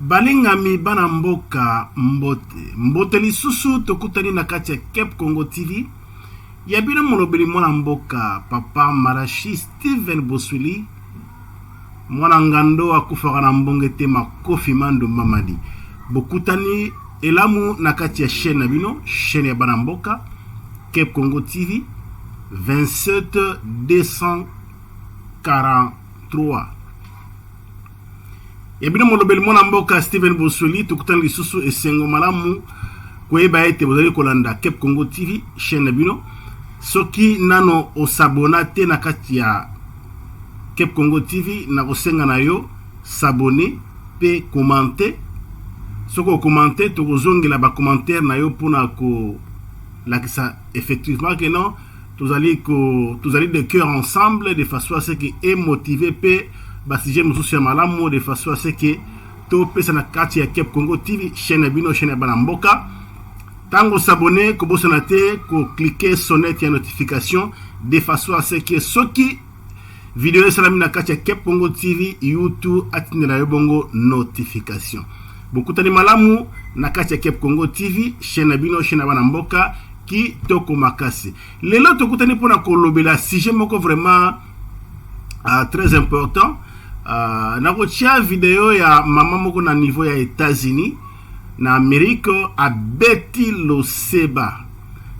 Balingami bana mboka mbote mbote lisusu tokutani na kati ya Cape Congo TV ya bino molobeli mwana mboka papa Marashi Steven Boswili Mwana ngando akufaka na mbonge te makofi ma ndumba madi bokutani elamu na kati ya chaine na bino chaine ya bana mboka Cape Congo TV 27243 ya bino molobeli mwana mboka Steven Bosoli tokutani lisusu esengo malamu koyeba ete bozali kolanda Cape Congo TV chaine na bino soki nano osabona te na kati ya Kepkongo TV nakosenga na yo s'abonner pe commenter soki okomante tokozongela ba commentaire na yo mpona kolakisa effectivement que non tozali, ko, tozali de cœur ensemble de façon à ce que emotive mpe basujet mosusu ya malamu de façon à ce que topesa na kati ya Cap Congo TV chaîne ya bino chaîne ya bana mboka Tango s'abonner kobosana te ko cliquer sonnette ya notification de façon à ce que soki video esalami na kati ya Kep Congo TV YouTube atindela yo bongo notification. Bokutani malamu na kati ya Kep Congo TV, chaîne na bino, chaîne na bana mboka kitoko makasi lelo tokutani mpona kolobela sujet moko vraiment uh, très important uh, ah, nakotia video ya mama moko na niveau ya états-unis na Amerique abeti loseba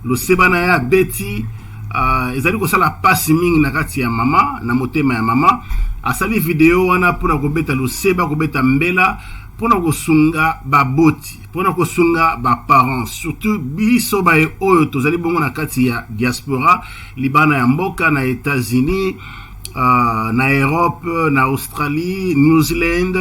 loseba na ye abeti uh, ezali kosala pasi mingi na kati ya mama na motema ya mama asali video wana mpona kobeta loseba kobeta mbela mpona kosunga baboti mpona kosunga baparent surtout biso baye oyo tozali bongo na kati ya diaspora libana ya mboka na etats-unis uh, na europe na australie new zealand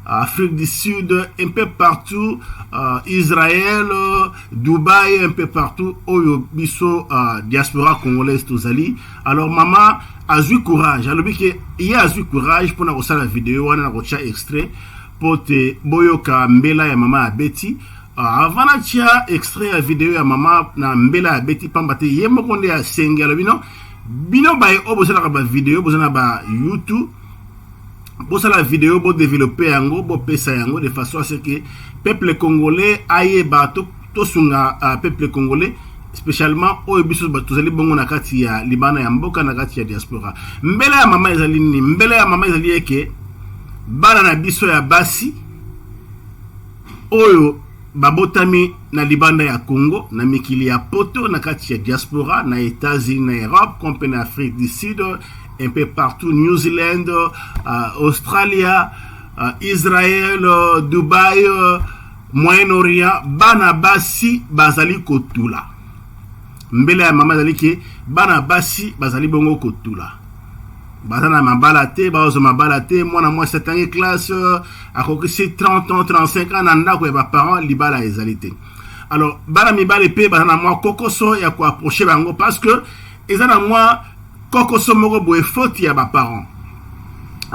Afrique du Sud, un peu partout, euh, Israël, euh, Dubaï, un peu partout, oyo biso euh, diaspora congolaise tozali. Alors maman azui courage, alobi ke ye azui courage mpona kosala video wana na kotya extrait mpo te boyoka mbela ya mama abeti euh, avant natya extrait ya video ya mama na mbela abeti mpamba te ye moko nde asengi alobi no bino baye oyo bosalaka bavideo boza na ba youtube bosala video bo développer yango bopesa yango de façon à ce que peuple congolais ayeba tosunga to euh, peuple congolais spécialement oyo biso tozali bongo na kati ya libana ya mboka na kati ya diaspora mbela ya mama ezali nini mbela ya mama ezali eke bana na biso ya basi oyo Babotami na libanda ya Congo, na mikili ya poto, na kati ya diaspora, na Etats-Unis, na Europe, comme pe na Afrique du Sud, un peu partout, New Zealand, uh, Australia, uh, Israël, uh, Dubaï, uh, Moyen-Orient, bana basi bazali kotula. Mbele ya mama ezali ke bana basi bazali bongo kotula. baza na mabala te bazwa mabala te mwana mwasi atangi classe akokisi 30 ans 35 ans na ndako ya baparent libala ezali te alors bana mibale mpe baza na mwa kokoso ya koaproche bango parce que eza na mwa kokoso moko boye foti ya baparent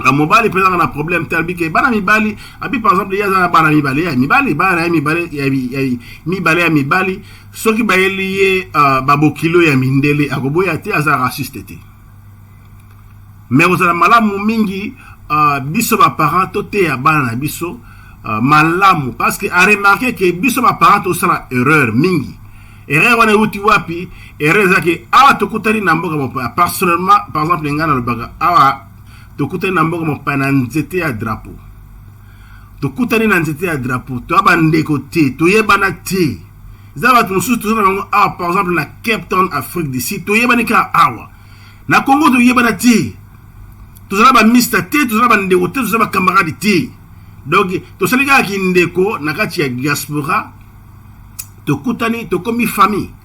na mobali mpe ezaka na problème te alobi ke bana mibali abi par exemple ye aza na bana mibale ya mibali bana na ye mibale ya mibale ya mibali soki bayeli ye euh, babokilo ya mindele akoboya te aza raciste te mais kozala malamu mingi uh, biso baparent toteya bana na biso uh, malamu parce que aremarke ke biso baparent tosala erreur mingi erreur wana euti wapi erreur ezalaki awa tokutani na mboka mopaya personnellement par exemple ngai nalobaka awa tokutani na mboka mopaya na nzete ya drapeau tokutani na nzete ya drapeau toya bandeko te toyebana te eza bato mosusu toza na bango awa par exemple na cape town afrique du sud toyebani kaka awa na congo toyebana te tozala bamista te tozala bandeko te tozala bakamarade te donc tosali kaka kindeko na kati ya diaspora tokutani tokomi famille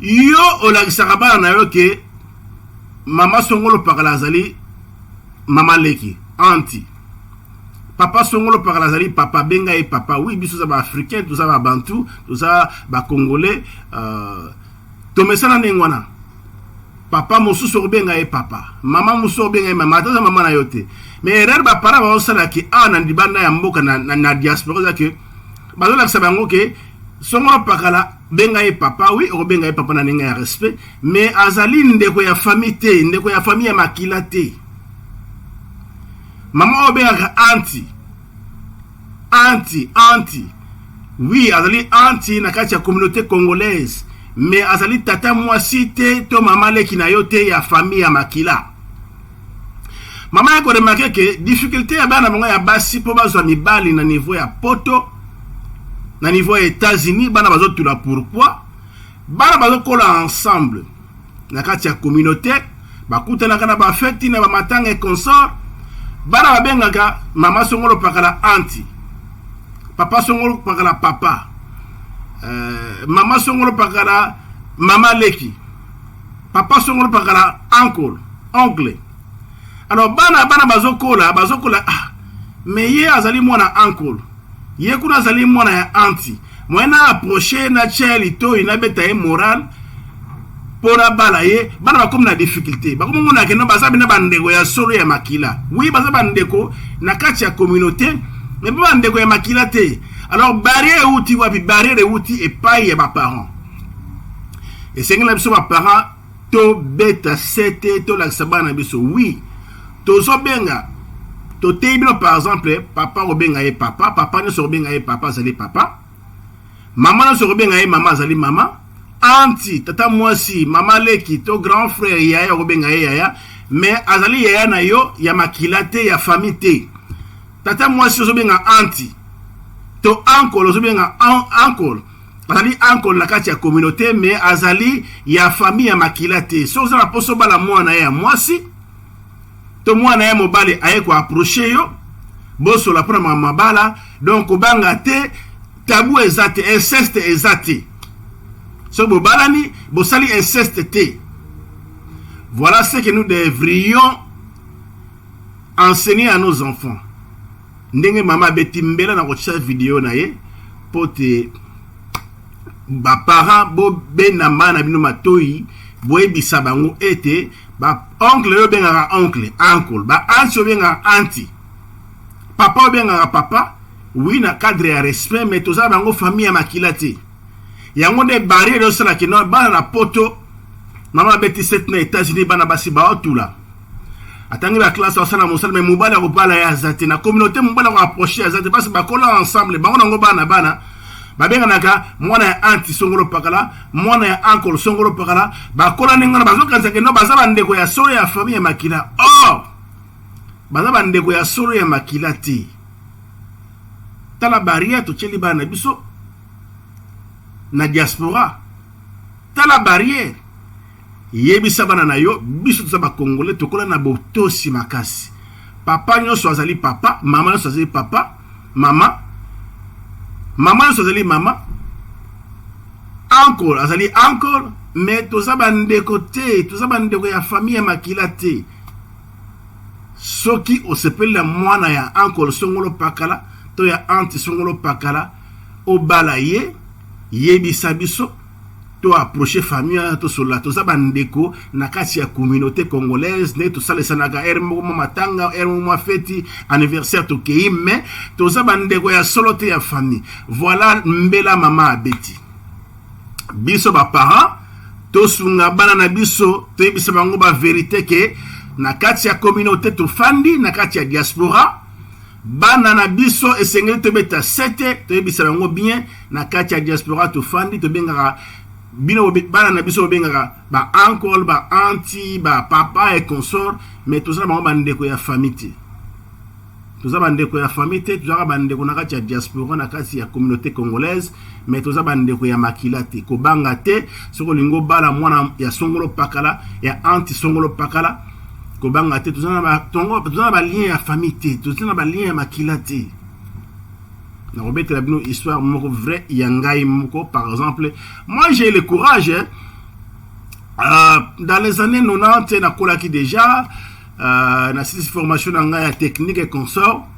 Yo olakisaka bana na yo ke mama songolo pakala azali mama leki anti papa songolo pakala azali papa benga ye papa oui biso za ba africain toza ba bantu toza ba congolais uh, tomesana ndenge wana papa mosusu okobenga ye papa mama mosusu okobenga ye mama ata oza mama na yo te mais erreur baparent baosala ke awa na libanda ya mboka na, na, na diaspora oza ke bazolakisa bango ke songolo pakala benga ye papa oui okobenga ye papa na ndenge ya respect mais azali ndeko ya famille te ndeko ya famille ya makila te mama oyo obengaka anti anti anti oui azali anti na kati ya communauté congolaise mais azali tata mwasi te to mama leki na yo te ya famille ya makila mama ya koremake ke difficulté ya bana bango ya basi mpo bazwa mibali na niveau ya poto na niveau ya états-unis bana bazotula pourquoi bana bazokola ensemble na kati ya communauté bakutanaka na bafeti na bamatanga e consort bana babengaka mama songolo pakala anti papa songolo pakala papa uh, mama songolo pakala mama leki Papa Songolo Pakala, uncle, oncle. Alors bana bana bazokola, bazokola ah, mais ye azali mwana uncle. Ye kuna azali mwana ya anti. Moyen na approcher na tia litoyi na beta ye moral mpo na bala ye bana bakomi na difficulté bakomi mona keno baza bina bandeko ya solo ya makila wi baza bandeko na kati ya communauté me mpe bandeko ya makila te alors barrière euti wapi barrière euti epai ya baparent esengeli na biso baparent tobeta sete tolakisa bana na biso wi tozobenga toteyi bino par exemple papa kobenga ye papa papa nyonso kobenga ye papa azali papa mama nyonso kobenga ye mama azali mama anti tata mwasi mama leki to grand frère yaya okobenga ye yaya mais azali yaya na yo ya makila te ya famille te tata mwasi ozobenga anti to ankolo ozobenga ankolo azali ankole na kati ya communauté me azali ya famille ya makila te soki oza na mposa obala mwana ye ya mwasi to mwana ye mobali aye koaproche yo bosola mpo na makambo mabala donc kobanga te tabu eza te inceste eza te soki bobalani bosali inceste te voilà ce que nous devrions enseigner à nos enfants Ndenge mama abeti mbela na kotia video na ye mpo te baparent bobenda mbana na bino matoi boyebisa bango ete baoncle oyo obengaka oncle uncle baanti obengaka anti papa obengaka papa wi na cadre ya respect mai toza bango famille ya makila te yango nde barriere osalaki no bana na poto mama abeti sete na états-unis bana basi baotula atangi ba classe asala mosala mais mobali akobala ye aza te na communauté mobali akoapproche aza te basi bakola ensemble bango nango bana bana babenganaka mwana ya anti songolo pakala mwana ya ankolo songolo pakala bakola ndenge wana bazokanisa keno baza bandeko ya solo ya famille ya makila or oh! baza bandeko ya solo ya makila te tala baria totyeli bana na biso na diaspora tala barrière Yebisa bana na yo biso toza ba congolais tokola na botosi makasi. Papa nyonso azali papa, mama nyonso azali papa, mama mama nyonso azali mama, uncle azali uncle, mais toza bandeko te, toza bandeko ya famille ya makila te. Soki osepeli na mwana ya uncle songolo pakala to ya anti songolo pakala obala ye, yebisa biso to approcher famille wana tosolola toza bandeko na kati ya communauté congolaise nde tosalesanaka heure moko mwa matanga heure moko mwa feti anniversaire tokei mais toza bandeko ya solo te ya famille voilà mbela mama abeti biso baparent tosunga bana na biso toyebisa bango baverité ke na kati ya communauté tofandi na kati ya diaspora bana na biso esengeli tobeta sete toyebisa bango bien na kati ya diaspora tofandi tobengaka bino bana na biso bobengaka ba uncle ba anti ba papa et consort mais toza na bango bandeko ya famille te toza bandeko ya famille te tozalaka bandeko na kati ya diaspora na kati ya communauté congolaise mais toza bandeko ya makila te kobanga te soki olingi obala mwana ya songolo pakala ya anti songolo pakala kobanga te toza na balien ya famille te toza na balien ya makila te nakobetela bino histoire moko vrai ya ngai moko par exemple moi j'ai le courage hein? euh, dans les années 90 nakolaki déjà euh, nasilisi formation na ngai ya technique et consort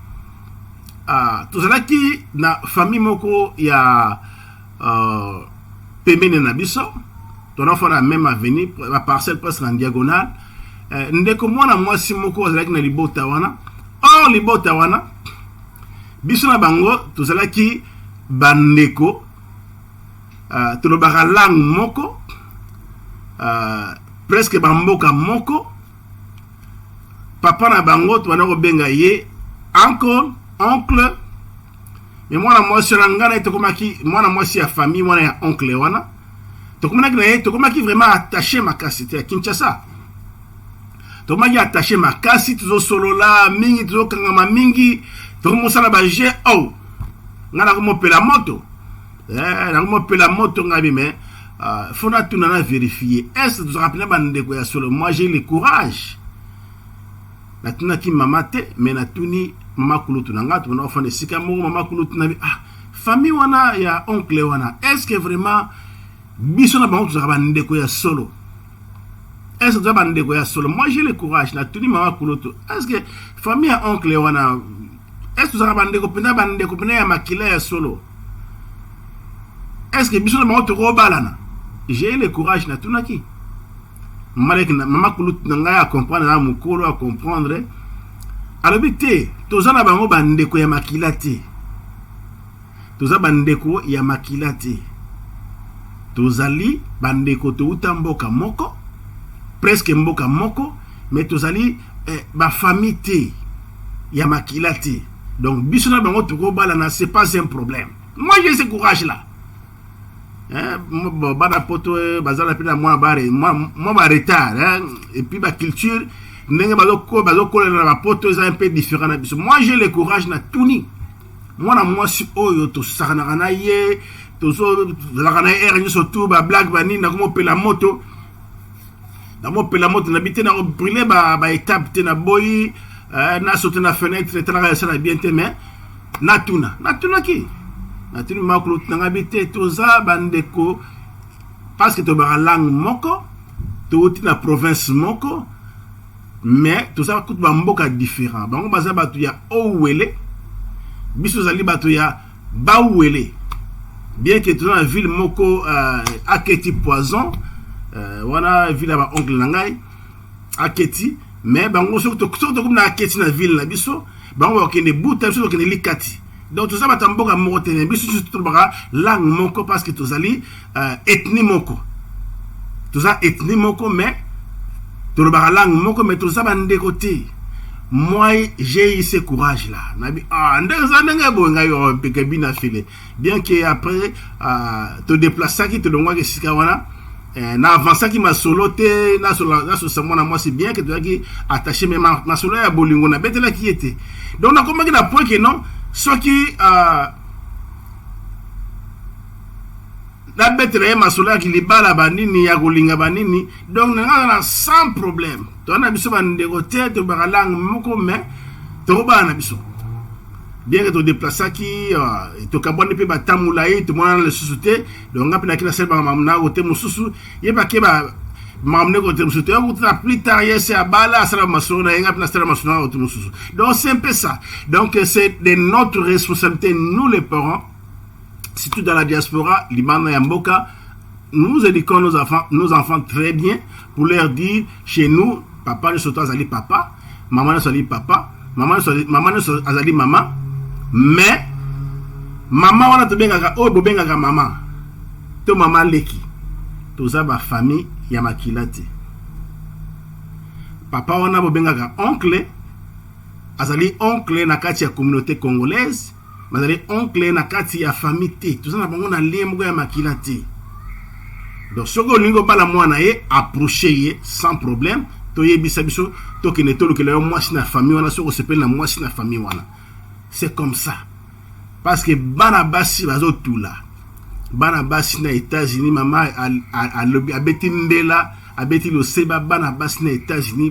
euh, tozalaki na famille moko ya euh, pembeni na biso tonafana même avenue baparcelle presque en diagonale euh, ndeko mwana mwasi moko azalaki na libota wana or libota wana biso na bango tozalaki bandeko uh, tolobaka langue moko uh, presque bamboka moko papa na bango tobanda kobenga ye uncle oncle me mwana mwasi wana ngai na ye tokomaki mwana mwasi ya famille mwana ya oncle wana tokomanaki na ye tokomaki vraiment attache makasi te ya kinshasa tokomaki attache makasi tozosolola mingi tozokangama mingi tokomosala baje o oh, ngai nakomopela moto eh, nakomopela moto ngai bime ah, fo natuna na verifie est tozalaka mpena bandeko ya solo moi j'ai le courage natunaki mama te me natuni mama kulutu na ngai tomona ofanda esika moko mama kulutu na bi ah famille wana ya oncle wana est ce que vraiment biso na bango tozalaka bandeko ya solo est-ce que bandeko ya solo moi j'ai le courage na tuni mama kuloto est-ce que famille ya oncle wana est-ce que tozalaka bandeko mpenza bandeko mpenza ya makila ya solo est-ce que biso na bango tokobalana j'ai le courage na tunaki maleki mama kulutu na ngai acomprendre na mokolo acomprendre alobi te toza na bango bandeko ya makila te Toza ba ndeko ya makila te tozali ba ndeko towuta mboka moko presque mboka moko mais tozali eh, ba famille te ya makila te donc biso na bango tokobalana c'est pas un problème moi j'ai ce courage là eh, bana poto eh, bazala mpe na mwa bare mwa ba retard hein? et puis ba culture ndenge bazokolela na bapoto eza un peu différent na biso moi j'ai le courage na tuni mwana mwasi oyo tosakanaka na ye tozalaka na ye ere nyonso tu bablage banini nakomopela moto namopela moto na bi te nakobrile baetape te naboyi eh, nasote na fenetre etalaka esala bien te mais natuna natunaki natuni makolo tunanga bi te toza bandeko parce que tobaka langue moko touti na province moko mais toza kutu ba mboka different bango baza bato ya owele biso ozali bato ya bawele bien que toza na ville moko uh, aketi poison uh, wana ville ya baoncle na ngai aketi mais bango soki tokomi na aketi na ville na biso bango bakokende buta biso tokende likati donc toza bato ya mboka moko te na biso tolobaka langue moko parce que tozali uh, ethnie moko toza ethnie moko mais tolobaka langue moko mais toza bandeko te moi j'ai eu ce courage là nabi ah ndenge eza ndenge boye ngai opeke bina file bien que après uh, todeplasaki tolongwaki esika wana eh, na avansaki masolo te nasosa mwana mwasi bien ke tozalaki attaché me masolo ya bolingo nabetelaki ye te donc nakomaki na point ke non soki uh, na betela ye masolo ya kilibala banini ya kolinga banini donc na ngai na sans problème toza na biso bandeko te tobaka langue moko mais tokobana na biso bien que todeplasaki euh, tokabwani mpe batambola ye tomonana lisusu te donc ngai mpe naki nasali makambo na kote mosusu ye bake ba makambo nde kote mosusu toya kutana plus tard ye se abala asala masolo na ye ngai mpe nasala masolo na kote mosusu donc c'est un peu ça donc c'est de notre responsabilité nous les parents surtout dans la diaspora, Liban et Amboka, nous éduquons nos enfants, nos enfants très bien pour leur dire chez nous, papa ne soit azali papa, maman ne soit papa, maman ne soit maman ne soit azali maman, mais maman wana to bengaka oyo oh, bobengaka maman to maman leki toza ba famille ya makila te papa wana bobengaka oncle azali oncle na kati ya communauté congolaise bazali oncle na kati ya famille te toza na bango na lien moko ya makila te donc soki olingi obala mwana ye approche ye sans problème toyebisa biso tokende tolukela yo mwasi na famille wana soki osepeli na mwasi na famille wana c'est comme ça parce que bana basi bazotula bana basi na états-unis mama abeti mbela abeti loseba bana basi na états-unis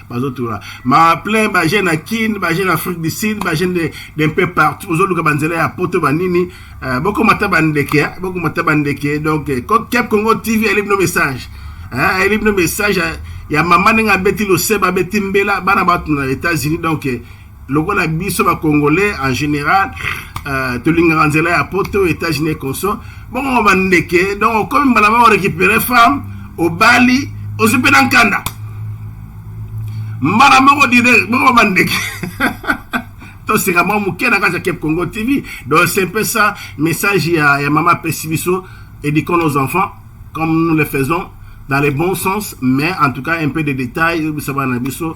bazotola ma plein bajeune na kin bajeune afrique du sud bajeune d'un peu partout ozoluka banzela ya poto banini euh, bokomata bandeke hein, bokomata bandeke donc euh, cap congo tv ayeli bino message hein, ayeli bino message ya mama ndenge abeti loseba abeti mbela bana bato na états-unis donc euh, lokola biso ba congolais en général euh, tolingaka nzela ya poto états-unis conso bongo bandeke donc okomi mbala moko récupérer femme obali ozwi mpe na nkanda mbala moko direct bongo bandeke toseka mwa moke na kati ya cape congo tv donc c'est un peu ça message ya, ya mama apesi biso éduquons nos enfants comme nous le faisons dans le bon sens mais en tout cas un peu de détail oyebisa bana na biso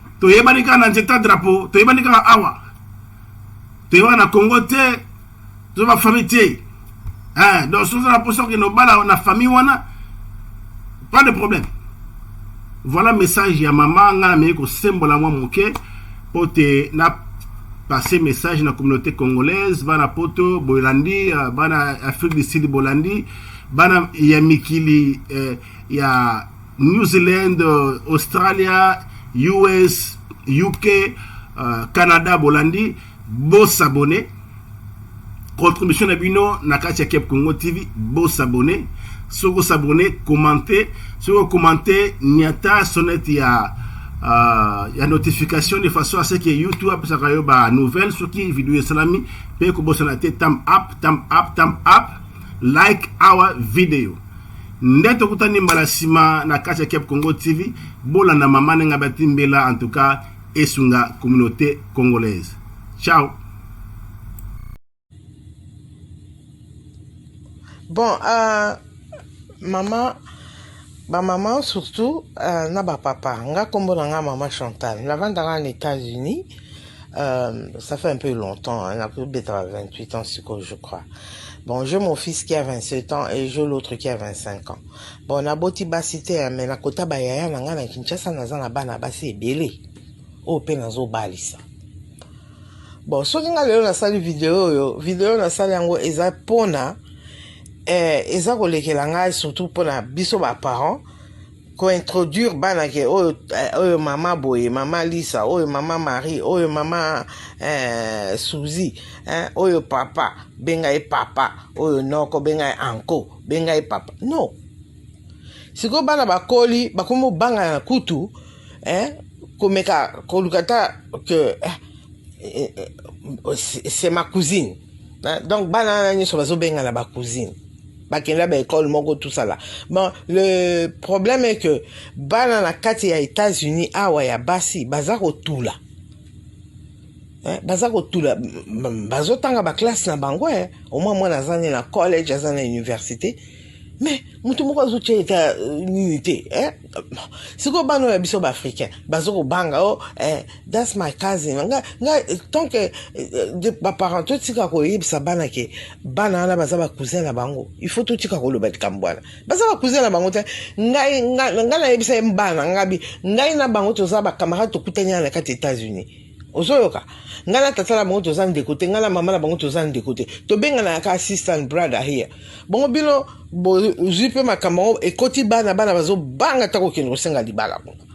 toyebani kaka na nzeta drapeau toyebani kaka awa toyebaka na congo te toza bafamille te eh, donc soki oza na mposa okende obala na famille wana pas de problème voilà message ya mama ngai namei kosembola mwa moke mpo te na passe message na communauté congolaise bana poto bolandi euh, bana afrique du sud bolandi bana ya mikili eh, ya New Zealand, euh, Australia, US, UK, euh, Canada, Bolandi, beau s'abonner. Contribution na bino na kati ya Cap Congo TV, beau s'abonner. Soko s'abonner, commenter, soko commenter nyata sonnet ya euh, ya notification de façon à ce que YouTube apesaka yo ba nouvelle soki video esalami mpe kobosana te tam up tam up tam up like our video Nde tokutani mbala nsima na kati ya Cap Congo TV. Bolanda mama nenga bati mbela en tout cas esunga communauté congolaise. Ciao. Bon uh, mama ba mama surtout uh, na ba papa nga kombo na nga mama Chantal navandaka na États-Unis Euh, ça fait un peu longtemps, hein, plus de 28 ans, je crois. Bon, j'ai mon fils qui a 27 ans et j'ai l'autre qui a 25 ans. Bon, na boti basite, hein, mais na kota ba yaya na nga na Kinshasa na zana bana basi ebele. O oh, pe na zo balisa. Bon, soki nga lelo na sali video yo, video na sali yango eza pona eh, eza kolekela ngai surtout pona biso ba parents ko introduire bana ke oyo eh, oyo mama boye mama Lisa oyo mama Marie oyo mama eh, Suzy eh, oyo papa benga ye papa oyo noko benga ye anko benga ye papa no sikoyo bana bakoli bakomi obangana kutu eh, komeka koluka ta ke eh, eh, eh, c'est ma cousine eh, donc bana wana nyonso bazobengana ba cousine bakenda ba école moko tout ça là bon le problème est que bana na kati ya États-Unis awa ya basi baza kotula eh, baza kotula bazotanga baklasse na bango eh. omwa mwana aza nde na college aza na université mais moto moko azotya eta euh, nini te eh. sikoyo bana oyo ya biso baafricain bazokobanga o oh, eh. That's my cousin. Nga, nga, tant que euh, ba parents to tika ko yebisa bana ke bana wana baza ba cousin na bango. Il faut to tika ko loba tikambwana. Baza ba cousin na bango te. Ngai nga, nga na yebisa bana ngabi. Ngai na bango toza ba camarades to kutani na kati États-Unis. ozoyoka ngai na tata na bango toza ndeko te ngai na mama na bango toza ndeko te tobenganaka ka assistant brother here bongo bino bozwi mpe makambo yango ekoti bana bana bazobanga ta kokende kosenga libala kuna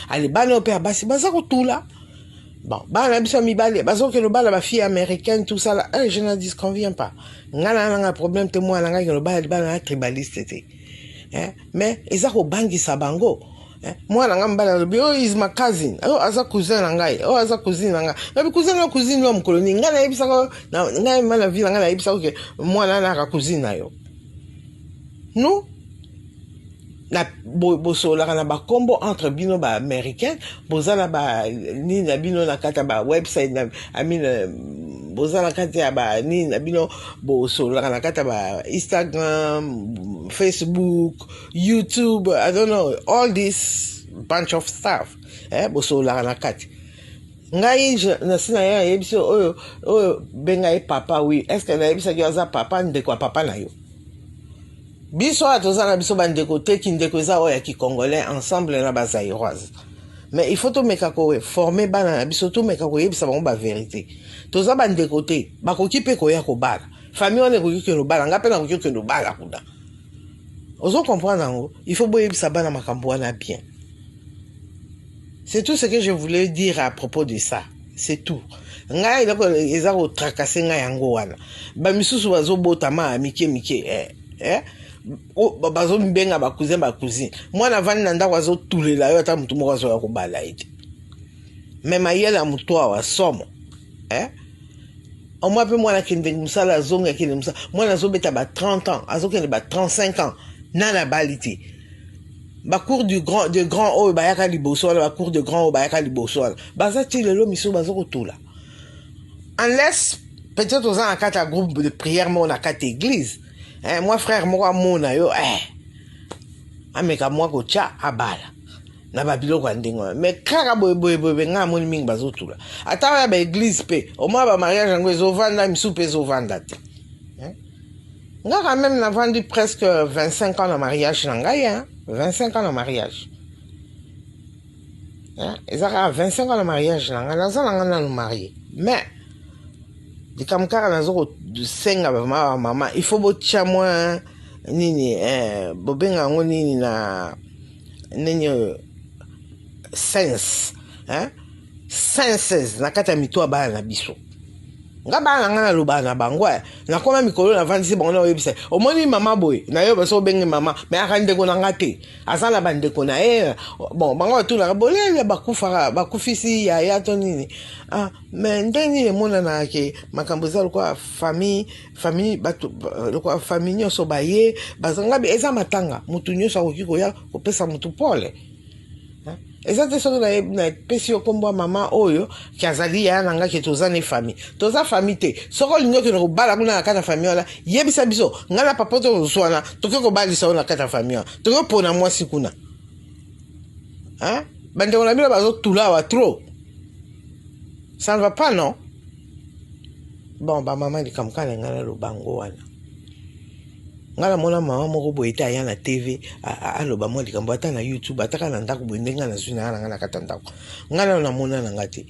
ale bana oyo mpe ya basi baza kotula bon bana na biso ya mibale bazokende obala bafille américaine tout ça la un je ne disconvient pas ngai na nanga problème te mwana ngai kende obala libala na tribaliste te eh, mais eza kobangisa bango eh, mwana ngai mobali alobi oyo oh, is ma cousin oyo oh, aza cousin na ngai oyo oh, aza cousine na ngai nabi cousin na cousine yo mokolo nini ngai nayebisaka ngai ma na vie na ngai nayebisaka ke mwana anaka cousine na yo no na bosololaka na bakombo entre bino ba américain boza na ba nini na bino na kati ya ba website na amin euh, boza na kati ya ba nini na bino bosololaka na kati ya ba instagram facebook youtube i don't know all this bunch of stuff eh, bosololaka na kati ngai nasi na ye ayebisi oyo oyo benga ye papa wi est ce que nayebisaki yo aza papa ndeko ya papa na yo Biso awa toza na biso bandeko te, kindeko eza oyo ya kicongolais ensemble na ba zairoise mais il faut tomeka koforme bana na biso, tomeka koyebisa bango baverité. Toza bandeko te, bakoki mpe koya kobala famille wana ekoki kende obala, ngai mpe nakoki kende obala kuna. Ozo comprendre yango, il faut boyebisa bana makambo wana bien. C'est tout ce que je voulais dire à propos de ça. C'est tout. Ngai eloko eza ko tracasser ngai yango wana. Ba misusu bazo botama mike mike eh eh bazo mibenga ba cousin ba cousine. Mwana vandi na ndako azo tulela yo ata mutu moko azo ya kobala ye te. Mais mayele ya mutu awa somo. Eh? Omwa pe mwana kende musala azonga kende musala. Mwana azobeta ba 30 ans, azokende ba 35 ans. Nana bali te. bacour du grand de grand oyo bayaka liboso wana bacour de grand oyo bayaka liboso wana baza ti lelo misu baza kotula unless peut-être oza na kati ya groupe de prière moko na kati église eh, mwa frère moko amona yo eh, ameka mwa kotya abala na babiloko ya ndenge wana mais kaka boyeboyeboye ngai amoni mingi bazotula ata oya baeglize mpe omona bamariage yango ezovanda misu mpe ezovanda te nga quand même navandi presque 25 ans na mariage na ngai hein? 25 ans na mariage hein? eza kaka 25 ans na mariage na ngai naza na ngai nanu marie mais likambo kaka naza kosenga vraiment mama il faut botya mwa nini eh, bobenga yango nini na nini oyo sense hein? senses na kati ya mito ya bana na biso nga bana na nga nalobaka na bango eh, nakoma mikolo navandisi bango naoyebisa omoni mama boye nayoba so obenge mama me aka ndeko na nga te aza na bandeko na ye bon bango batunaka bolele bakufaka bakufisi yaya to nini ah, me nde nini emonanaka ke makambo eza lokola famille famille bato lokola famille nyonso baye bazangabi eza matanga motu nyonso akoki koya kopesa motu pole eza te soki napesi yo nkombo ya mama oyo ke azali yaya na ngai ke toza ne famille toza famille te soki olingi okende kobala kuna na kati ya famille wana yebisa biso ngai na papa to ozwana toke kobalisa yo na kati ya famille wana toke kopona mwasi kuna bandeko na bino bazotula awa trop ça ne va pas non bon bamama likambo kala ngai naloba yango wana Nga na mona mama moko boye te aya na TV aloba mwa likambo ata na YouTube ata kaka na ndako boye ndenge nga nazwi naya na nga na kati ya ndako nga nano namona na nga te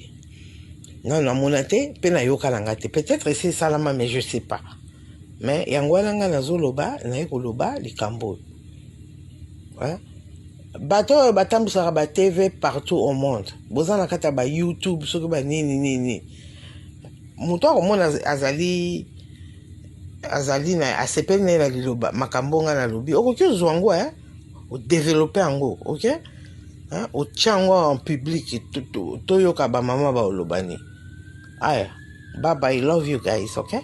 nano namona te mpe nayoka na nga te peut-être esi esalama mais je sais pas mais yango wana nga nazoloba naye koloba likambo oyo bato oyo batambwisaka ba TV partout au monde boza na kati ya ba YouTube soki ba nini nini moto akomona azali azali na asepeli na ye na liloba makambo ngai nalobi okoki ozwa yango eh? odevelope yango ok eh? otya yango en public toyoka to bamama baolobani aya baba i love you guys ok